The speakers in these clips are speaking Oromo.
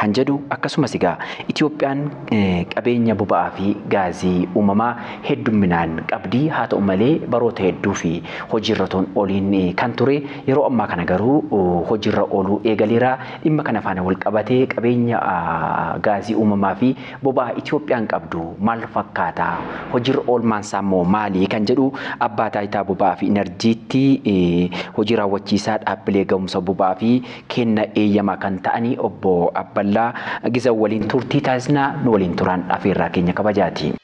kan jedhu akkasumas egaa Itoophiyaan qabeenya boba'aa fi gaazii uumamaa heddumminaan qabdi haa ta'u malee baroota hedduu fi hojiirra otoo hin ooliin kan ture yeroo ammaa kana garuu hojiirra ooluu eegaleera dhimma kana faana wal qabatee qabeenya gaazii uumamaa fi boba'aa Itoophiyaan qabdu maal fakkaata hojiirra oolmaan isaa immoo maali kan jedhu abbaa taayitaa boba'aa fi inarjiitti hojii raawwachiisaa dhaabbilee ga'umsa boba'aa fi kenna eeyyamaa kan ta'anii obbo Abballaa Gizaw waliin turtii taasisnaa nu waliin turaan afeerraa keenya kabajaati.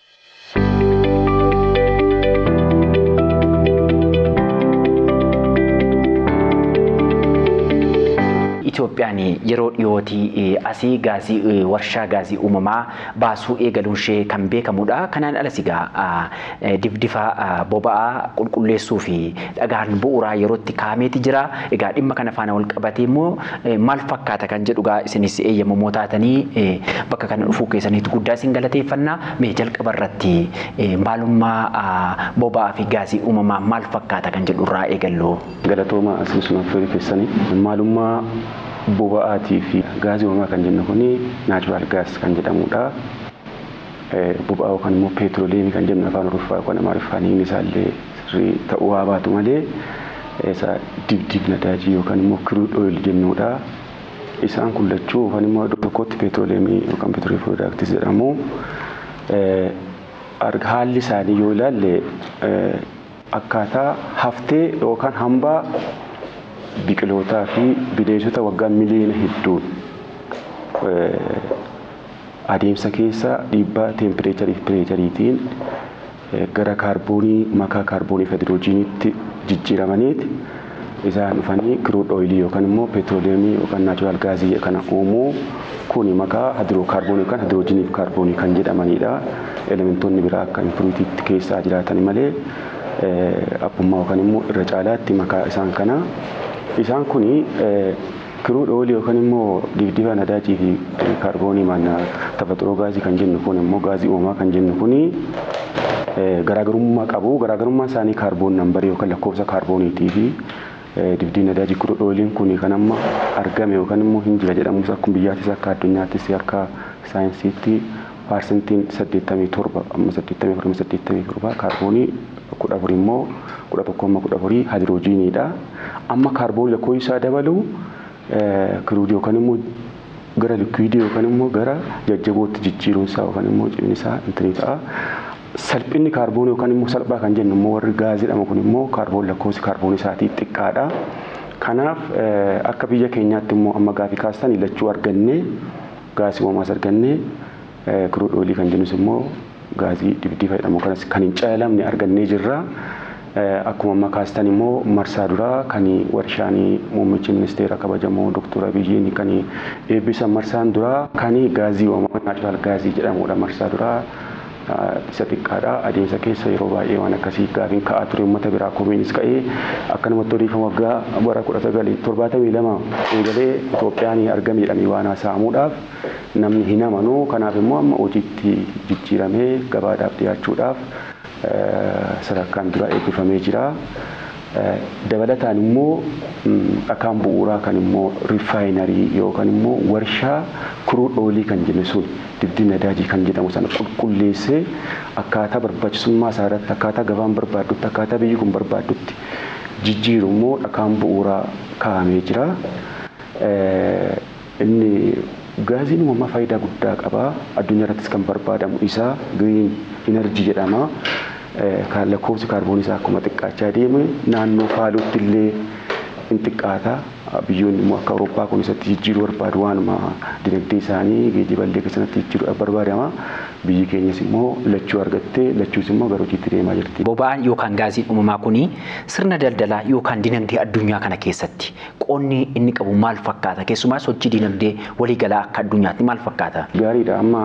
Itoophiyaan yeroo dhiyootii asii gaazii warshaa gaazii uumamaa baasuu eegaluunshee kan beekamudha. Kanaan alas egaa difdifa boba'aa qulqulleessuu fi dhagaan bu'uuraa yerootti kaa'ameeti jira. Egaa dhimma kana faana wal qabatee immoo maal fakkaata kan jedhu egaa isinis eeyyamamoo taatanii bakka kana dhufuu keessaniitu guddaa isin galateeffanna. Mee jalqaba irratti maalummaa boba'aa fi gaazii uumamaa maal fakkaata kan jedhu irraa eegallu. Galatoomaa as nu affeeruu keessaniif. Maalummaa boba'aatii fi gaazii uumamaa kan jennu kun natural gas kan jedhamudha. Boba'aa yookaan immoo peetiroliyeemii kan jennu afaan Oroffaa yookaan Amaariffaan hiikni isaa illee sirrii ta'uu haa baatu malee isa dibdiib nadaajii yookaan immoo crude oil jennudha. Isaan kun lachuu yookaan immoo iddoo tokkotti peetiroliyeemii yookaan peetiroliyeem piroodaaktis jedhamu. Haalli isaanii yoo ilaalle Akkaataa haftee yookaan hambaa biqilootaa fi bineensota waggaa miliyoona hedduun adeemsa keessa dhiibbaa teempireecharii fi pireechariitiin gara kaarboonii makaa kaarboonii fi hadirojiiniitti jijjiiramaniiti. Isaan dhufanii kiruud ooyilii yookaan immoo peetirooleemii yookaan naachuraal gaazii kana uumuu kuni makaa hadirokaarboonii yookaan hadiroojiniif kaarboonii kan jedhamaniidha. Elementoonni biraa akka impuruutiitti keessaa jiraatan malee abbummaa yookaan immoo irra caalaatti makaa isaan kana. Isaan kuni Kiruud oolii yookan immoo dibdiba nadaajii fi kaarboonii maadna tafaxiroo gaazii kan jennu kun immoo gaazii uumamaa kan jennu kun garaagarummaa qabu. Garaagarummaan isaanii kaarboon nambarii yookan lakkoofsa kaarbooniitii fi dibdibi nadaajii kiruud ooliin kun kan amma argame yookan immoo hin jira jedhamus akkuma biyyaattis akka addunyaattis akka saayinsiitti paarsentiin 87 amma 84 amma 87 kaarboonii 14 immoo 11 amma 14 haayidiroojiiniidha. Amma kaarboonii lakkoofsi isaa dabalu kiruudii yookaan immoo gara likwiidii yookaan immoo gara jajjabootti jijjiiruun isaa yookaan immoo cimni isaa intinii ta'a. Salphinni kaarboonii yookaan immoo salphaa kan jennu immoo warri gaazii jedhamu kun immoo kaarboon lakkoofsi kaarboonii isaatii xiqqaadha. Kanaaf akka biyya keenyaatti immoo amma gaafii kaastan lachuu argannee Gaasii uumamaa as argannee kiruud ooyilii kan jennus immoo gaazii dhibdiifa jedhamu kanas kan hin calalamne argannee jirra. Akkuma amma kaastan immoo marsaa duraa kan warshaan muummichi ministeera kabajamoo Doktor Abiyyiin kan eebbisan marsaan duraa kan gaazii uumamaa naachuraal gaazii jedhamudha marsaa duraa. isa xiqqaadha. Adeemsa keessa yeroo baay'ee waan akkasii gaafiin ka'aa ture uummata biraa komiinis ka'ee akkanumatti odeeffama waggaa bara 1972 eegalee Itoophiyaan argame jedhanii waan haasa'amuudhaaf namni hin amanu kanaaf immoo amma hojiitti jijjiiramee gabaadhaaf dhiyaachuudhaaf sadarkaan dura eebbifamee jira. Dabalataan immoo dhakaan bu'uuraa kan immoo rifaayinarii yookan immoo warshaa kuruud oilii kan jennu sun dibdii nadaajii kan jedhamu sana qulqulleessee akkaataa barbaachisummaa isaa irratti akkaataa gabaan barbaaddutti akkaataa biyyi kun barbaaddutti jijjiiru immoo dhakaan bu'uuraa kaa'amee jira. Inni gaazii uumamaa faayidaa guddaa qaba. Addunyaa irrattis kan barbaadamu isa, green energy jedhama. Lakkoofsi kaarboonii isaa akkuma xiqqaachaa deeme naannoo faaluutti illee in xiqqaata. Biyyoonni immoo akka Awurooppaa kun isatti jijjiiruu barbaadu waanuma dinagdee isaanii geejiba illee keessatti jijjiiruudhaaf barbaadama. Biyyi keenyas immoo lachuu argatte, lachuus immoo gara hojiitti deemaa jirti. Boba'aan yookaan gaaziin uumamaa kun sirna daldalaa yookaan dinagdee addunyaa kana keessatti Qoonni inni qabu maal fakkaata? Keessumaa sochii dinagdee walii galaa akka addunyaatti maal fakkaata? Gaariidha. Amma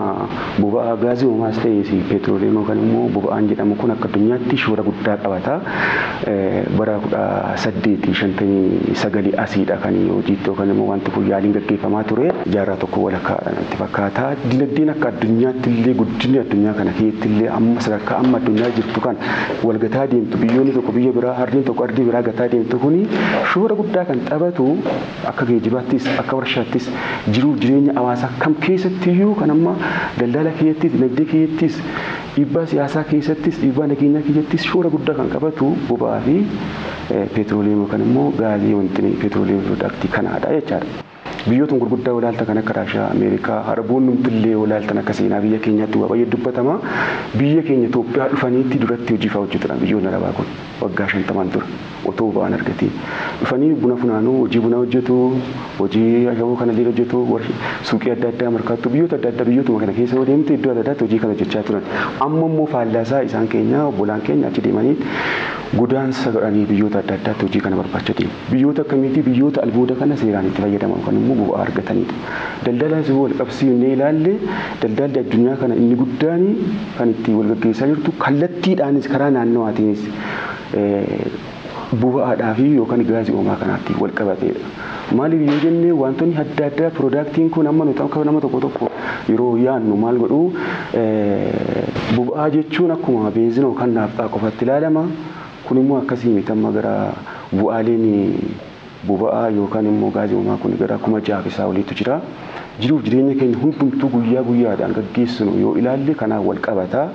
boba'aa gaazii uumaas ta'ees petrolium yookaan immoo boba'aan jedhamu kun akka addunyaatti shoora guddaa qabata. Bara 1859 asiidha kan hojiitti yookaan immoo wanti kun yaaliin gaggeeffamaa ture. Jaarraa tokko walakkaadha natti fakkaata. Dinagdeen akka addunyaatti illee guddinni addunyaa kana keessatti illee amma sadarkaa amma addunyaa jirtu kana wal gataa deemtu biyyoonni tokko biyya biraa ardiin tokko ardii biraa gataa deemtu kuni shoora guddaa kan taphatu akka geejibaattis akka warshaattis jiruuf jireenya hawaasaa kam keessattiyyuu kan amma daldala keessattis dinagdee keessattis dhiibbaa siyaasaa keessattis dhiibbaa nageenyaa keessattis shoora guddaa kan qabatu boba'aa fi peetirooleemii yookaan immoo gaazii wanti peetirooleemii piroodaaktii kanaadha jechaadha. Biyyootn gurguddaa walaalta kan akka Raashiyaa, Ameerikaa, Araboonnumtillee walaaltan akka seenaa biyya keenyaatti waa bayye dubbatama. Biyya keenya Itoophiyaa dhufaniitti duratti hojii faa hojjatudhan biyyootni Arabaa kun waggaa shantamaan dura otoo boba'aan argatiin. Dhufanii buna funaanuu, hojii bunaa hojjatu, hojii ashaboo kanalleen hojjatu, warsh, suuqii adda addaa markaattuu biyyoota adda addaa biyyootuma kana keessa yoo deemte iddoo adda addaatti hojii kana hojjachaa turan. Amma immoo faallaasaa isaan keenya obbolaan keenya achi deemanii godaansa godhanii biyyoota adda addaatti hojii kana barbaacha deemu. Biyyoota akkamiiti? Biyyoota albuuda kana seeraan itti fayyadaman yookaan immoo bu'aa argataniidha. Daldala osoo wal qabsiifnee ilaalle daldalli addunyaa kana inni guddaan kan itti wal gaggeessaa jirtu kallattiidhaanis karaa naannawaatiinis boba'aadhaafi yookaan gaazii uumamaa kanaatti wal qabateedha. Maaliif yoo jenne wantoonni adda addaa piroodaaktiin kun amma nuti akka nama tokko tokko yeroo yaannu maal godhu boba'aa jechuun akkuma beenzina yookaan naafxaa qofaatti ilaalama. Kun immoo akkasii miti amma gara bu'aaleen boba'aa yookaan immoo gaazii uumamaa kun gara kuma ja'a fi isaa oliitu jira. Jiruuf jireenya keenya hundumtuu guyyaa guyyaadhaan gaggeessinu yoo ilaalle kanaan wal qabata.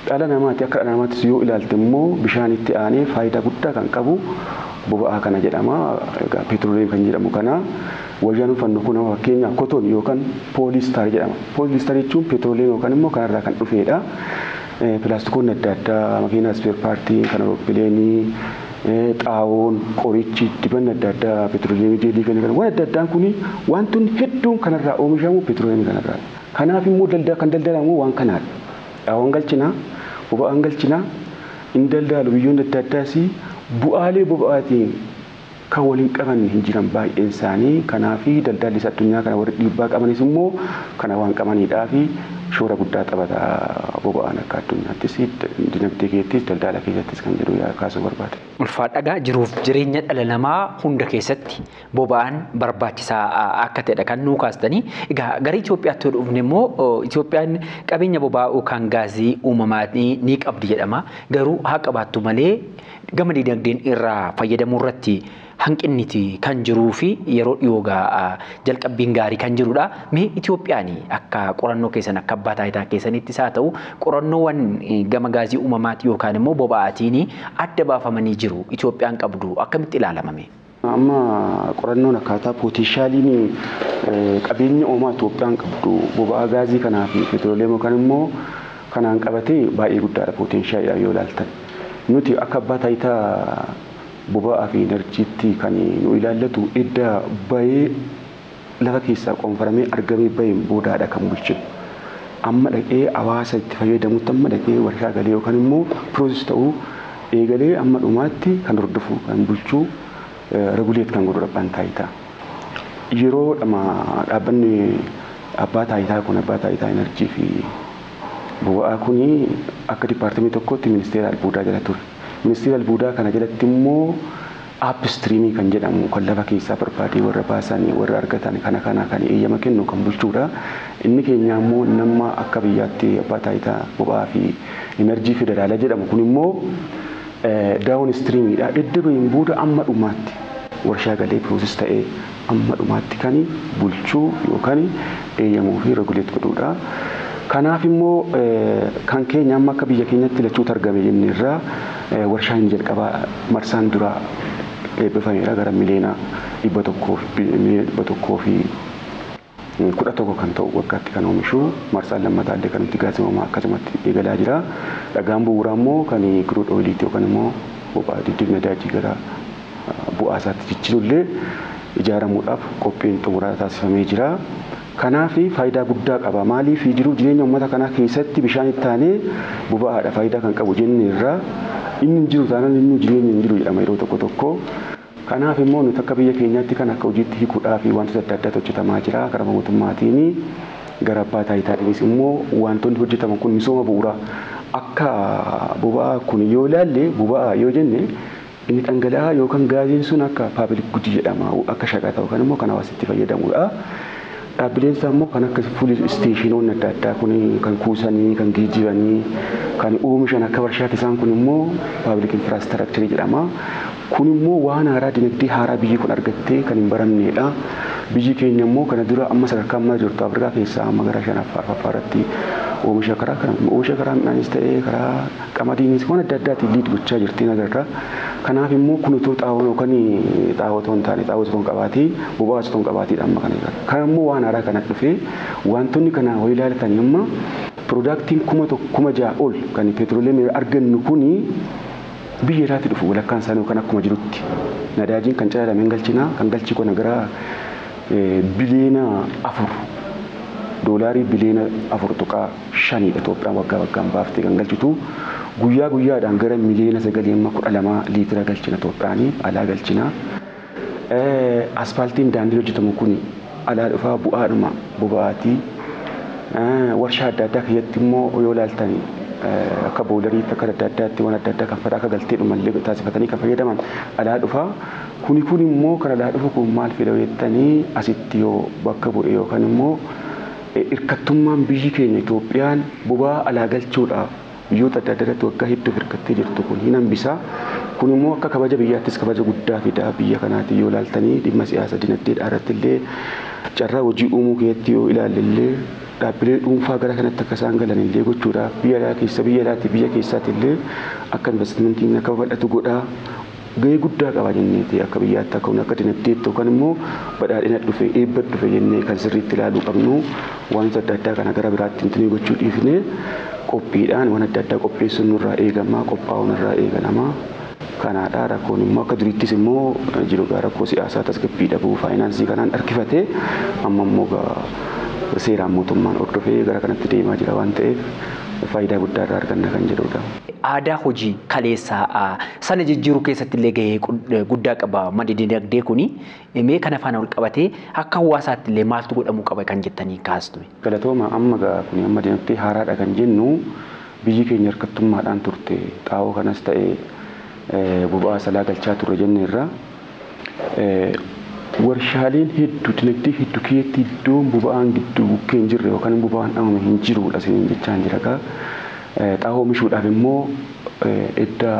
Dhala namaati akka dhala namaattis yoo ilaalte immoo bishaanitti aanee faayidaa guddaa kan qabu boba'aa kana jedhama. Egaa petroleem kan jedhamu kana wayyaan uffannu kun amma fakkeenyaaf koton yookaan pooliistaar jedhama. Pooliistaar jechuun petroleem yookaan immoo kanarraa kan dhufeedha. Pilaastikoonni adda addaa, makiinaa ispeer paartii, kan awuroppileeni, xaawoon, qorichi, dibanni adda addaa, petroliyeemii jeelii kana kana waan adda addaan kuni waantonni hedduun kanarraa oomishamu petroliyeemii kanarraadha. Kanaaf immoo dalda kan daldalan immoo waan kanaadha. Xaawoon galchina, boba'aan galchina, hin daldaalu biyyoonni adda addaas bu'aalee boba'aatiin kan wal hin qabanne hin jiran baay'een isaanii kanaafi daldaalli isa addunyaa kana warri dhiibbaa qabanis immoo kana waan qabaniidhaafi shoora guddaa taphata boba'aan akka addunyaattis dinagdee keettis daldaala keessattis kan jedhu yaa kaasuu barbaade. Ulfaadhagaa jiruuf jireenya dhala namaa hunda keessatti boba'aan barbaachisaa akka ta'edha kan nuu kaastanii egaa gara Itoophiyaatti yoo dhufne immoo Itoophiyaan qabeenya boba'aa yookaan gaazii uumamaanii ni qabdi jedhama garuu haa qabaattu malee Gama diinagdeen irraa fayyadamuu irratti hanqinniti kan jiruu fi yeroo dhiyoo gaa jalqabbiin gaarii kan jirudha. Mee Itoophiyaan akka qorannoo keessan akka abbaa taayitaa keessanittis haa ta'u qorannoowwan gama gaazii uumamaati yookaan immoo boba'aatiin adda baafamanii jiru Itoophiyaan qabdu akkamitti ilaalamame? Amma qorannoon akkaataa pooteenshaaliin qabeenya uumamaa Itoophiyaan qabdu boba'aa gaazii kanaa fi peetirooleemii yookaan immoo kanaan qabatee baay'ee guddaadha pooteenshaaliidhaan yoo ilaaltan. Nuti akka abbaa taayitaa boba'aa fi inarjiitti kan nu ilaallatu edda bayee lafa keessaa qoonfaramee argamee baheen boodaadha kan bulche. Amma dhaqee hawaasa itti fayyadamutti amma dhaqee warshaa galee yookaan immoo process ta'uu eegalee amma dhumaatti kan hordofu kan bulchu regulate kan godhudha abbaan taayitaa. Yeroo dhama dhaabbanni abbaa taayitaa kun abbaa taayitaa enerjii fi boba'aa kun akka dipaartimii tokkootti ministeera albuudaa jala ture. Ministeera albuudaa kana jalatti immoo Upstream kan jedhamu kan lafa keessaa barbaadee warra baasan, warra argatan kana kana kan eeyyama kennu kan bulchuudha. Inni keenyaa immoo inni amma akka biyyaatti Abbaa Taayitaa Boba'aa fi Inarjii Federaalaa jedhamu kun immoo downstream dha. Edda baheen booda amma dhumaatti warshaa galee process ta'ee amma dhumaatti kan bulchuu yookaan eeyyamu fi regulate godhuudha. Kanaaf immoo kan keenya amma akka biyya keenyatti lachuu targame jenne irraa warshaa inni jalqabaa marsaan duraa eebbifameera gara miliyoona dhibba tokkoo fi 11 kan ta'u waggaatti kan oomishu marsaan lammataa illee kan itti gaazii uumamaa akkasumatti eegalaa jira. Dhagaan bu'uuraa immoo kan crude oil ti yookaan immoo boba'aa diddiib nadaajii gara bu'aa isaatti jijjiiru illee ijaaramuudhaaf qophiin xumuraa taasifamee jira. Kanaaf faayidaa guddaa qaba. Maaliif jiruu jireenya uummata kanaa keessatti bishaan itti aanee boba'aadha faayidaa kan qabu jenneerra. Inni hin jiru taanaan innuu jireenyi hin jiru jedhama yeroo tokko tokko. Kanaaf immoo nuti akka biyya keenyaatti kana akka hojiitti hikuudhaaf waantota adda addaatu hojjetamaa jira. Gara mootummaatiin, gara abbaa taayitaatiinis immoo waantonni hojjetaman kun misooma bu'uuraa akka boba'aa kun yoo ilaalle boba'aa yoo jenne inni dhangala'aa yookaan gaaziin sun akka paabilik gudi jedhama akka shaqaxa yookaan immoo kan hawaasni itti fayyadamuudha. Dhaabbileen isaa immoo kan akka fuulii isteeshinoonni adda addaa kun kan kuusanii, kan geejjibanii, kan oomishan akka warshaatti isaan kun immoo paabilik infiraastiraakcharii jedhama. Kun immoo waan haaraa dinagdee haaraa biyyi kun argattee kan hin baramneedha. Biyyi keenya immoo kana dura amma sadarkaa ammaa jirtu Afrikaa keessaa amma gara shanaffaa arfaffaa irratti oomisha karaa oomisha karaa midhaanis ta'ee karaa Qamadiin waan adda addaatiin liid gochaa jirtiin agarra. Kanaaf immoo kun utuu xaa'oon yookaan xaa'oo otoo hin taane xaa'oos otoo hin qabaatii boba'aas otoo hin qabaatiidha amma kana eegalu. Kana immoo waan haaraa kana dhufee waantonni kanaa hoo ilaaltanii amma pirodaaktiin kuma tokko kuma ja'a ol kan peetirooleemii irraa argannu kun biyya alaatti dhufu walakkaan isaanii yookaan akkuma jirutti nadaajiin kan calalame hin galchinaa kan galchii kana gara biliyeena afur doolaarii biliyeena afur tuqaa shanii dha Itoophiyaan waggaa waggaan baaftee kan galchitu. Guyyaa guyyaadhaan gara miliyoona 9.12 liitira galchina Itoophiyaan alaa galchina. Aspaaltiin daandiin hojjetamu kun alaa dhufaa bu'aadhuma boba'aati. Warshaa adda addaa keessatti immoo yoo ilaaltan akka boolariitti akka adda addaatti waan adda addaa kan fadaa akka galtee dhumallee taasifatanii kan fayyadaman alaa dhufaa. Kuni kun immoo kan alaa dhufu kun maal fida jettanii asitti yoo bakka bu'e yookaan immoo Hirkattummaan biyyi keenya Itoophiyaan boba'aa alaa galchuudhaaf biyyoota adda addaa irratti waggaa hedduuf hirkattee jirtu kun hin hambisa. Kun immoo akka kabaja biyyaattis kabaja guddaa fida. Biyya kanaatiin yoo ilaaltanii dhimma siyaasa dinagdeedhaa irratti illee carraa hojii uumuu keessatti yoo ilaalle illee dhaabbilee dhuunfaa gara kanatti akka isaan galan illee gochuudhaaf biyya alaa keessa biyya alaatiif biyya keessaati illee akka investimentiin akka babal'atu godha. gahee guddaa qaba jenneeti akka biyyaatti akka hunda akka dinagdeetti yookaan immoo badhaadhina dhufe eebba dhufe jennee kan sirriitti ilaaluu qabnu waanota adda addaa kana gara biraatti intinee gochuu dhiifnee qophiidhaan waan adda addaa qopheessuun nurraa eegama qophaa'uun irraa eegalama kanaadha rakkoon immoo akka duriittis immoo jiru gaa rakkoo siyaasaa tasgabbii dhabuu faayinaansii kanaan harkifate amma immoo gaa seeraan mootummaan hordofee gara kanatti deemaa jira waan ta'eef faayidaa guddaa irraa arganna kan jedhudha. aadaa hojii kaleessaa sana jijjiiruu keessatti illee gahee guddaa qaba maddi dinagdee kuni mee kana faana wal qabatee akka hawaasaatti illee maaltu godhamuu qaba kan jettanii kaastu. Galatooma amma gaa kuni amma dinagdee haaraadha kan jennu biyyi keenya hirkattummaadhaan turte xaa'oo kanas ta'e boba'aa salaa galchaa turre jenneerra. Warshaaleen heddu dinagdee heddu keessatti iddoon boba'aan giddu bukkee hin jirre yookaan boba'aan dhamame hin jiruudha isiniin jechaan jira kaa. Xaa'oo oomishuudhaaf immoo edda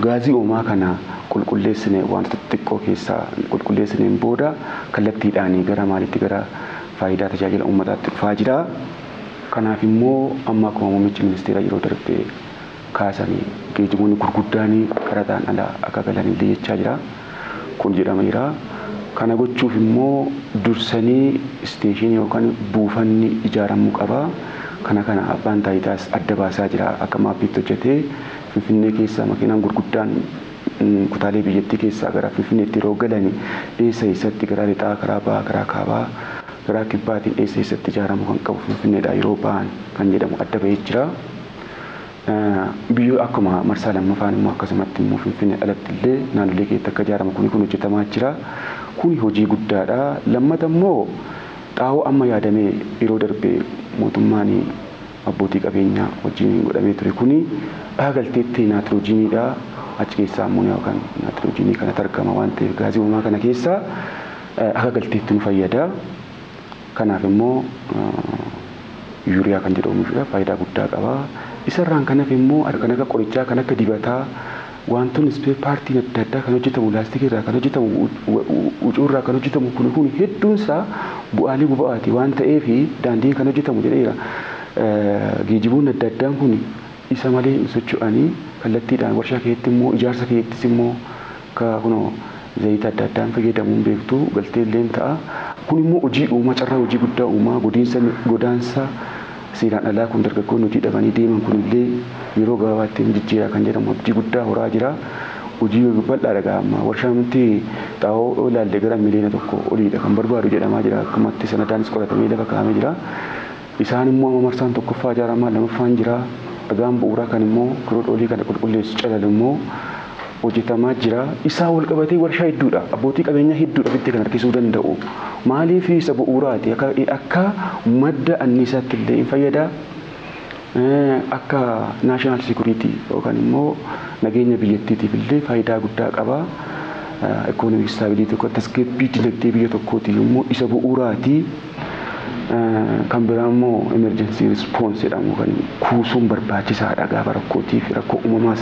gaazii uumamaa kana qulqulleessine waantota xixiqqoo keessaa qulqulleessineen booda kallattiidhaan gara maaliitti gara faayidaa tajaajila uummataatti dhufaa jira. Kanaaf immoo amma akkuma muummichi ministeeraa yeroo darbe kaasani geejibonni gurguddaani qaraxaan ala akka galan illee jechaa jira. Kun jedhameera. Kana gochuuf immoo dursanii isteeshiini yookan buufanni ijaaramuu qaba. Kana kana abbaan taayitaas adda baasaa jira. Akka maappiitti hojjatee Finfinnee keessaa makiinaan gurguddaan kutaalee biyyattii keessaa gara Finfinneetti yeroo galani eessa eessatti karaa lixaa, karaa bahaa, karaa kaabaa, karaa kibbaatiin eessa eessatti ijaaramuu kan qabu Finfinneedhaa yeroo bahan kan jedhamu adda bahee jira. Biyyoo akkuma marsaa lammafaan immoo akkasumatti immoo Finfinnee alatti illee naannolee keessatti akka ijaaramu kuni kun hojjetamaa jira. Kuni hojii guddaadha. Lammata immoo xaa'oo amma yaadamee yeroo darbe mootummaan abbootii qabeenyaa wajjiniin godhamee ture kuni dhaha galteetti naatiroojiiniidha. Achi keessaa ammooniyaa yookaan naatiroojiinii kanatu argama waan ta'eef gaazii uumamaa kana keessaa akka galteetti nu fayyada. Kanaaf immoo Yuuriyaa kan jedhu oomishuudhaaf faayidaa guddaa qaba. Isa irraan kan hafe immoo kan akka qorichaa, kan akka dibataa, waantonni ispee paartiin adda addaa kan hojjetamu laastikii irraa kan hojjetamu, hucuu irraa kan hojjetamu kuni kuni hedduun isaa bu'aalee boba'aati waan ta'eef daandiin kan hojjetamu jedheera. Geejiboonni adda addaan kuni isa malee hin socho'ani. Kallattiidhaan warshaa keessatti immoo ijaarsa keessattis immoo Akka kunoo zayita adda addaan fayyadamuun beektu galtee illeen ta'a. Kun immoo hojii uuma, carraa hojii guddaa uuma. Godiinsa, godaansa seeraan alaa kun dargaggoonni hojii dhabanii deeman kun illee yeroo gabaabaatti ni jijjiira kan jedhamu abdii guddaa horaa jira. Hojii bal'aa dha egaa amma. Warshaan wanti xaa'oo yoo ilaalle gara miliyoona tokko olii dha kan barbaadu jedhamaa jira. Akkumatti sanadaanis qoratamee lafa kaa'amee jira. Isaan immoo amma marsaan tokkoffaa ijaaramaa lamaffaan jira. Dhagaan bu'uuraa kan immoo crude oil kana qulqulleessu calalu immoo hojjetamaa jira. Isaa wal qabatee warshaa hedduudha. Abbootii qabeenyaa hedduudha ofitti kan harkisuu danda'u. Maaliif isa bu'uuraati akka akka madda anniisaatti illee hin fayyada. Akka national security yookaan immoo nageenya biyyattiitiif illee faayidaa guddaa qaba. Economic stability yookaan tasgabbii dinagdee biyya tokkootiif immoo isa bu'uuraati. Kan biraa immoo emergency response jedhamu kan kuusuun barbaachisaadha gaafa rakkootiif rakkoo uumamaas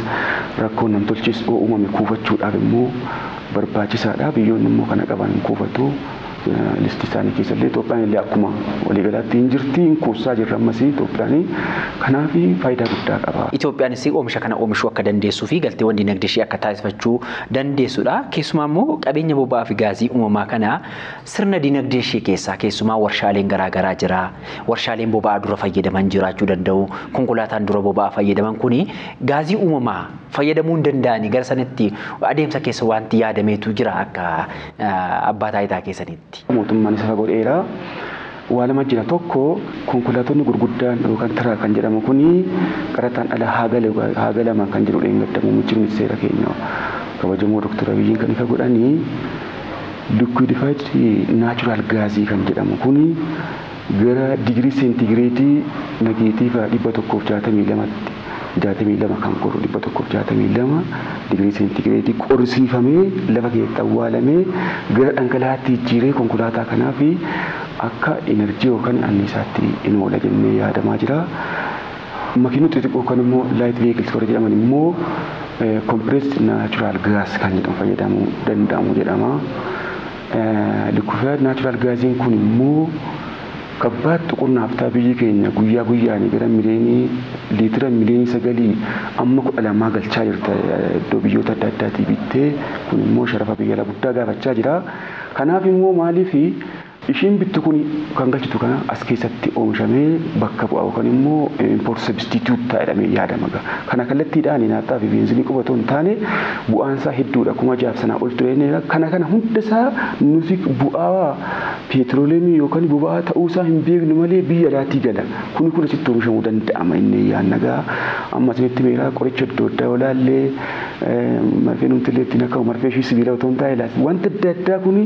rakkoo namtolchiis yoo uumame kuufachuudhaaf immoo barbaachisaadha biyyoonni immoo kana qaban hin kuufatu listii isaanii keessa illee Itoophiyaan illee akkuma waliigalaatti hin jirti hin kuusaa jirra ammas Itoophiyaan kanaaf faayidaa guddaa qaba. Itoophiyaanis oomisha kana oomishuu akka dandeessuu fi galteewwan dinagdee ishee akka taasifachuu dandeessudha. Keessumaa immoo qabeenya boba'aa fi gaazii uumamaa kana Sirna dinagdee ishee keessaa keessumaa warshaaleen garaa garaa jira. Warshaaleen boba'aa dura fayyadaman jiraachuu danda'u. Konkolaataan dura boba'aa fayyadaman kuni gaazii uumamaa fayyadamuu hin danda'ani gara sanatti adeemsa keessa wanti yaadameetu jira akka abbaa taayitaa keessaniitti. Mootummaan isa godheera. Waa lama jira tokko konkolaatonni gurguddaan yookaan tiraak kan jedhamu kun qaraxaan ala haa galu haa galaman kan jedhu dheengadda muummichi ministeera keenya kabajamoo Dr. Abiyyiin kan ifa godhani liquidfied natural gaasii kan jedhamu kun gara digirii seentigireedii nageetiiva 162tti 62 kan qoru 162 digirii seentigireedii qorisiifamee lafa keessatti awwaalamee gara dhangalaa'aatti jijjiiree konkolaataa kanaaf akka inarjii yookaan anniisaatti in oola jennee yaadamaa jira. Makiinota xixiqqoo yookaan immoo light vehicles warri jedhaman immoo compressed natural gas kan jedhamu fayyadamuu danda'amu jedhama. Liquefied natural gaasiin kun immoo Gabbaatti qonnaaftaa biyyi keenya guyyaa guyyaani gara miliyeenii liitira miliyeenii sagalii amma kudha lamaa galchaa jirta iddoo biyyoota adda addaatii bittee kun immoo sharafa biyya ala guddaa gaafachaa jira kanaaf immoo maaliif ishiin bittu kun kan galchitu kana as keessatti oomishamee bakka bu'a yookan immoo import substitute ta'a jedhamee yaadama kana kallattiidhaan naafxaa fi beenzinii qofa otoo hin taane bu'aansaa hedduudha kuma jaaf sanaa ol ture kana kana hundasaa nuti bu'aa Peetirooleemii yookan boba'aa ta'uu isaa hin beeknu malee biyya alaatii gala. Kuni kun asitti oomishamuu danda'ama innee yaanna gaa amma isinitti himeeraa qoricha adda addaa yoo laallee marfeen umtillee ittiin akka marfee ishii sibiila otoo hin taa'e laaf wanti adda addaa kuni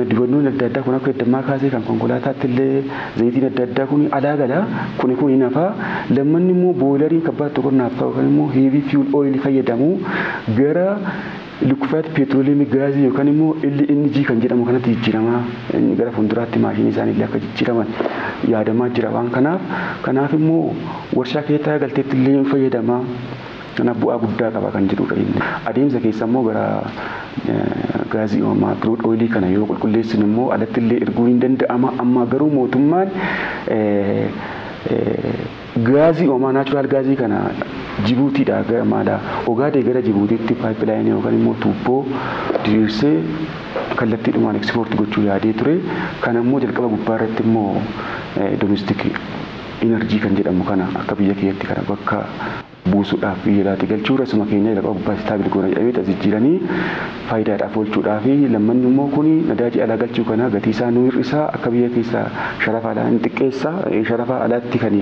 dibannoon adda addaa kun akka heddammaa kaasee kan konkolaataatti illee zayitiin adda addaa kuni alaa gala kuni kun hin hafaa lammanni immoo booyilariin kabbaatti qonnaaf ta'u kan immoo heavy fuel oil fayyadamu gara Liqufaati peetiroliyeemii gaazii yookaan immoo LNG kan jedhamu kanatti jijjiiramaa inni gara fuulduraatti maashinii isaanii illee akka jijjiiraman yaadamaa jira waan kanaaf kanaaf immoo warshaa keessatti haga galteetti illee hin fayyadamaa kanaaf bu'aa guddaa qaba kan jedhuudha inni adeemsa keessa immoo gara gaazii uumamaa kiruud ooyilii kana yoo qulqulleessine immoo alatti illee erguun hin danda'ama ammaa garuu mootummaan Gaazii uumamaa, natural gas, kana Jibuutiidhaa gara maalaa Ogaadee gara Jibuutiitti pipeline yookaan immoo tuubboo diriirsee kallattiidhumaan export gochuu yaadee ture. Kana immoo jalqaba gubbaa irratti immoo domestic energy kan jedhamu kana akka biyya kiyyatti kana bakka buusuudhaaf biyya alaatti galchuu rasuma keenya jalqaba gubbaa istaabil goona jedhamee as jijjiiranii faayidaadhaaf oolchuudhaa fi lammanni immoo kuni nadaaji alaa galchuu kana gatii isaa nuu hir'isaa akka biyya keessaa sharafa alaa hin xiqqeessa sharafa alaatti kan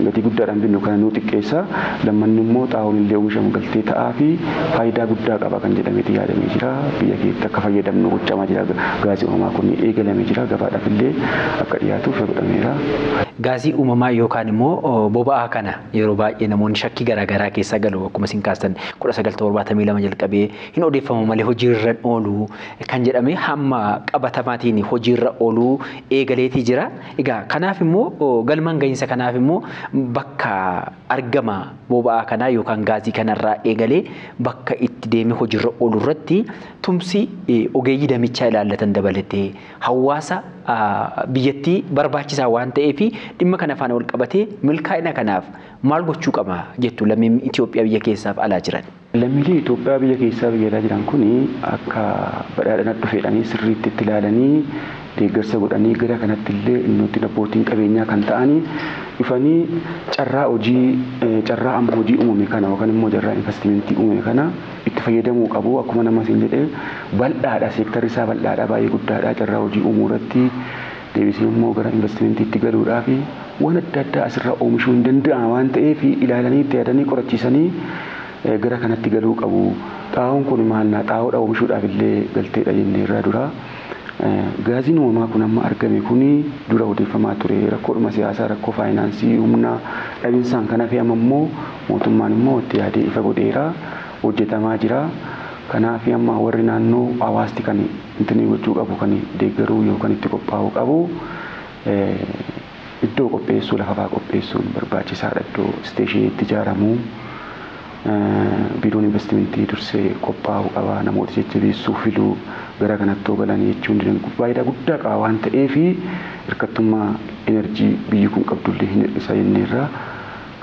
gatii guddaadhaan binnu kana nuu xiqqeessa lammanni immoo xaa'oon illee oomishamu galtee ta'aa fi faayidaa guddaa qaba kan jedhameeti yaadamee jira biyya keetti akka fayyadamnu gochamaa jira gaazii uumamaa kun eegalamee jira gabaadhaaf illee akka dhiyaatuuf godhameera. Gaazii uumamaa yookaan immoo boba'aa kana Yeroo baay'ee namoonni shakkii garaa garaa keessa galu akkuma isin kaastan 1972 jalqabee hin odeeffamu malee hojiirra hin oolu kan jedhame hamma qabatamaatiin hojiirra ooluu eegaleetii jira. Egaa kanaaf immoo galmaan gahinsa kanaaf immoo bakka argama boba'aa kanaa yookaan gaazii kanarraa eegalee bakka itti deemee hojiirra oolu irratti tumsi ogeeyyii damichaa ilaallatan dabalatee hawaasa biyyattii barbaachisaa waan ta'eef dhimma kana faana wal qabatee milkaa'ina kanaaf maal gochuu qaba jettu lammiin Itoophiyaa biyya keessaaf alaa jiran? Lammiileen Itoophiyaa biyya keessaa biyya alaa jiran kun akka badhaadhina dhufeedhanii sirriitti itti ilaalanii deeggarsa godhanii gara kanatti illee innoottiin abbootiin qabeenyaa kan ta'anii dhufanii carraa hojii carraa amma hojii uumame kana yookaan immoo carraa investimentii uumame kana itti fayyadamuu qabu. Akkuma nama siin jedhee bal'aadha, seektarri isaa bal'aadha, baay'ee guddaadha. Carraa hojii uumuu irratti deebisee immoo gara investimentiitti galuudhaaf waan adda addaa asirraa oomishuun ni danda'ama waan ta'eef ilaalanii itti yaadanii qorachiisanii gara kanatti galuu qabu. Xaa'oon kun maalnaa xaa'oodha oomishuudhaaf illee galteedha jenneerra dura. Gaaziin uumamaa kun amma argame kun dura odeeffamaa ture rakkoodhuma siyaasaa, rakkoo faayinaansii, humna dhabinsaan kan hafe amma immoo mootummaan immoo itti yaadee ifa godheera. Hojjetamaa jira. Kanaaf amma warri naannoo hawaasti kan intinii gochuu qabu kan deeggaruu yookan itti qophaa'uu qabu. Iddoo qopheessuu lafafaa qopheessuun barbaachisaadha iddoo isteeshinii itti ijaaramu biiroon invastimentii dursee qophaa'uu qaba namoota jajjabeessuu filuu gara kanatti yoo galan jechuun dinagdee faayidaa guddaa qaba waan ta'eef hirkattummaa enerjii biyyi kun qabdullee hin hir'isa jenneerra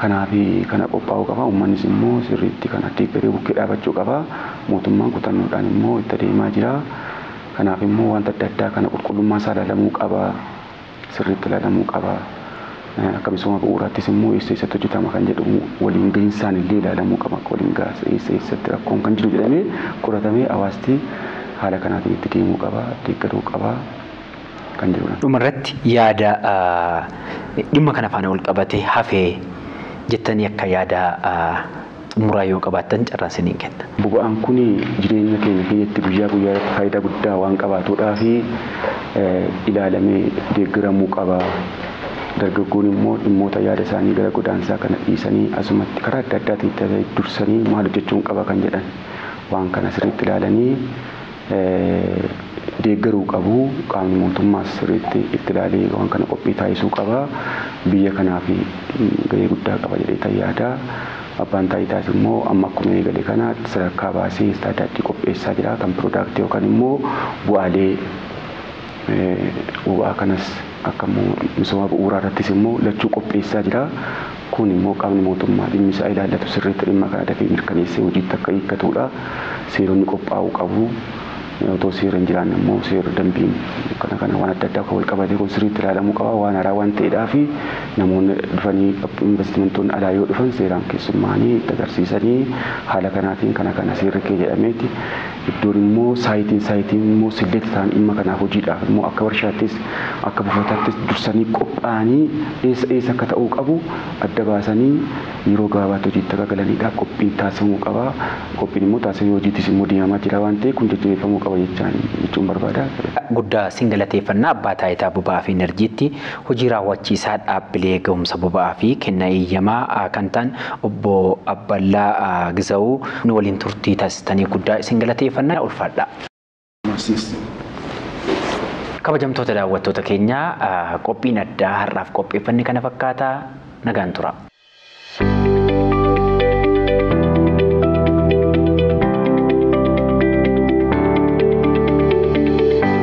kanaaf kana qophaa'uu qaba ummannis immoo sirriitti kana deeggaree bukkee dhaabachuu qaba mootummaan kutannoodhaan immoo itti adeemaa jira kanaaf immoo wanta adda addaa kana qulqullummaa isaa ilaalamuu qaba sirriitti ilaalamuu qaba. Akka misooma bu'uuraattis immoo eessa eessatti hojjetama kan jedhu waliin gahinsaan illee ilaalamuu qaba. Akka waliin gahaas eessa eessatti rakkoon kan jiru jedhamee qoratamee hawaasti haala kanaatiin itti deemuu qaba, deeggaruu qaba kan jedhudha. Dhuma irratti yaada dhimma kana faana walqabatee hafe jettanii akka yaada. xumuraa yoo qabaattan carraa isiniin kenna. Boba'aan kun jireenya keenya keeyyatti guyyaa guyyaa irratti faayidaa guddaa waan qabaatuudhaaf ilaalamee deeggaramuu qaba. Dargaggoon immoo dhimmoota yaada isaanii gara godaansaa kana dhiisanii asumatti karaa adda addaatiin ta'ee dursanii maal hojjechuun qaba kan jedhan waan kana sirriitti ilaalanii deeggaruu qabu. Qaamni mootummaas sirriitti itti ilaalee waan kana qophii taasisuu qaba. Biyya kanaaf gahee guddaa qaba jedheetan yaada. Abbaan Taayitaas immoo amma akkuma eegale kana sadarkaa baasee istaadaardii qopheessaa jira. Kan piroodaaktii yookaan immoo bu'aalee boba'aa kanas akka immoo misooma bu'uuraa irrattis immoo lachuu qopheessaa jira. Kun immoo qaamni mootummaa dhimmi isaa ilaallatu sirriitti dhimma kana dafee mirkaneessee hojiitti akka hiikkatuudha. Seeronni qophaa'uu qabu. Otoo seerri hin jiraanne immoo seerri dambiin kana kana waan adda addaa kan wal qabatee kun sirriitti ilaalamuu qaba. Waan haaraa waan ta'eedhaaf namoonni dhufanii investimentoonni alaa yoo dhufan seeraan keessummaa'anii itti agarsiisanii haala kanaatiin kana kana seerri kee jedhameeti Iddoon immoo saayitiin saayitiin immoo select ta'an dhimma kanaaf hojiidhaaf immoo akka warshaattis akka buufataattis dursanii qophaa'anii eessa eessa akka ta'uu qabu adda baasanii yeroo gabaabaatti hojiitti akka galaniidhaaf qophiin taasifamuu qaba. Qophiin immoo taasifamee hojiittis immoo deemamaa jira waan ta'eef kun jajjabeeffamuu qaba jechaan jechuun barbaada. guddaa sin galateeffanna Abbaa Taayitaa Boba'aa fi Inarjiitti Hojii Raawwachiisaa Dhaabbilee Ga'umsa Boba'aa fi Kennaa Eeyyamaa a kan ta'an Obbo Abballaa Gizawu nu waliin turtii taasistaniif guddaa isin galateeffanna. Ulfaadhaa! Kabajamtoota daawwattoota keenya qophiin addaa har'aaf qopheeffanne kana fakkaata. Nagaan turaa!